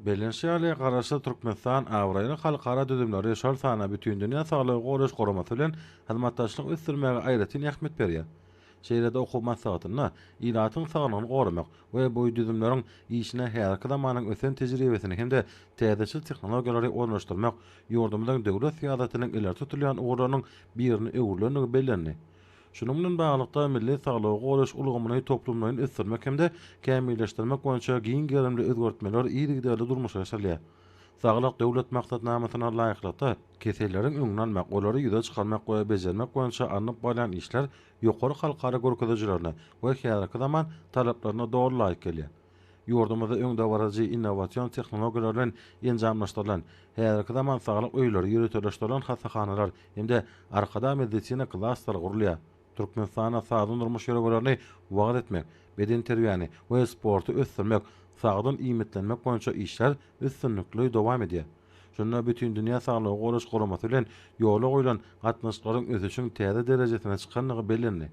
Bellenişi ýaly, Garaşsyz Türkmenistan abraýly halkara düzümleri, şol sanda Bütindünýä Saglygy Goraýyş Guramasy bilen hyzmatdaşlygy ösdürmäge aýratyn ähmiýet berýär. Şeýle-de okuw maslahatynda ilatyň saglygyny goramak we bu düzümleriň işine häzirki zamanyň ösen tejribesini hem-de täzeçil tehnologiýalary ornaşdyrmak ýurdumyzyň döwlet syýasatynyň ileri tutulýan ugurlarynyň birine öwrülendigi bellendi. Şunuň bilen baglylykda, milli saglygy goraýyş ulgamyny toplumlaýyn ösdürmek hem-de kämilleşdirmek boýunça giň gerimli özgertmeler yzygiderli durmuşa geçirilýär. Saglyk Döwlet maksatnamasyna laýyklykda, keselleriň öňüni almak, olary ýüze çykarmak we bejermek boýunça alnyp barylýan işler ýokary halkara görkezijilerine we häzirki zaman talaplaryna doly laýyk gelýär. Ýurdumyzda öňdebaryjy innowasion tehnologiýalar bilen enjamlaşdyrylan, häzirki zaman saglyk öýleri, ýöriteleşdirilen hassahanalar hem-de Arkadag medisina klasteri gurulýar. Türkmenistanda sagdyn durmuş ýörelgelerini wagyz etmek, bedenterbiýäni we sporty ösdürmek, sagdyn iýmitlenmek boýunça işler üstünlikli dowam edýär. Şunda Bütindünýä saglygy goraýyş guramasy bilen ýola goýlan gatnaşyklaryň ösüşiň täze derejesine çykandygy bellendi.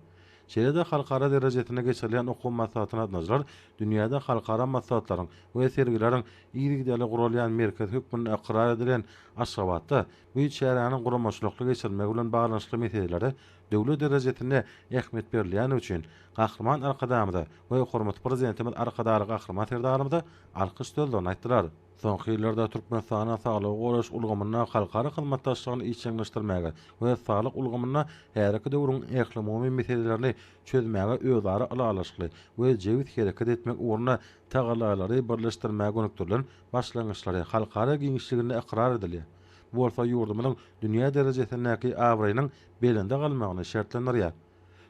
Şeýle-de halkara derejesinde geçirilýän okuw maslahatyna gatnaşyjylar dünýäde halkara maslahatlaryň we sergileriň yzygiderli guralýan merkezi hökmünde ykrar edilen Aşgabatda bu çäräniň guramaçylykly geçirilmegi bilen baglanyşykly meselelere döwlet derejesinde ähmiýet berilýändigi üçin Gahryman Arkadagymyza we hormatly Prezidentimiz Arkadagly Gahryman Serdarymyza alkyş sözlerini aýtdylar. Soňky ýyllarda Türkmenistana saglygy goraýyş ulgamynda halkara hyzmatdaşlygyny işjeňleşdirmäge we saglyk ulgamynda häzirki döwrüň ählumumy meselelerini çözmäge özara ylalaşykly we jebis hereket etmek ugrunda tagallalary birleşdirmäge gönükdirilen başlangyçlary halkara giňişliginde ykrar edilýär. Bu bolsa ýurdumyzyň dünýä derejesindäki abraýynyň belende galmagyny şertlendirýär.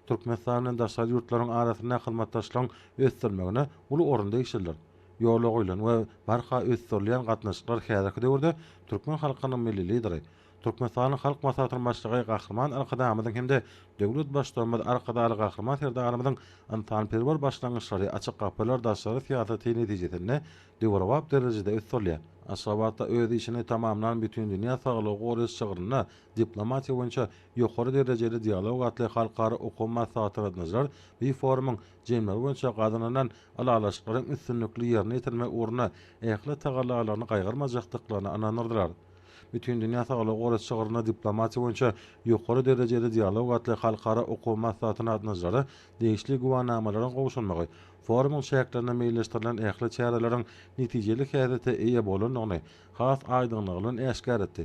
Türkmenistan bilen daşary ýurtlaryň arasyndaky hyzmatdaşlygyň ösdürilmegine uly orun degişlidir. Ýola goýlan we barha ösdürilýän gatnaşyklar häzirki döwürde türkmen halkynyň Milli Lideri, Türkmenistanyň Halk Maslahatynyň Başlygy Gahryman Arkadagymyzyň hem-de döwlet Baştutanymyz Arkadagly Gahryman Serdarymyzyň ynsanperwer başlangyçlary, açyk gapylar daşary syýasaty netijesinde döwrebap derejede ösdürilýär. Aşgabatda öz işini tamamlan Bütindünýä saglygy goraýyş çygrynda Diplomatiýa boýunça ýokary derejeli dialog atly halkara okuw maslahaty gatnaşylar bu forumyň jemleri boýunça gazanylan ylalaşyklaryň üstünlikli ýerine ýetirilmegi ugrunda ähli tagallalaryny gaýgyrmajakdyklaryna ynandyrdylar. Bütindünýä saglygy goraýyş çygrynda Diplomatiýa boýunça ýokary derejeli dialog atly halkara okuw maslahatyna gatnaşylara degişli güwänamalaryň gowşurmagy forumyň çäklerinde meýilleşdirilen ähli çäreleriň netijeli häsiýete eýe bolandygyny has aýdyňlygy bilen äşgär etdi.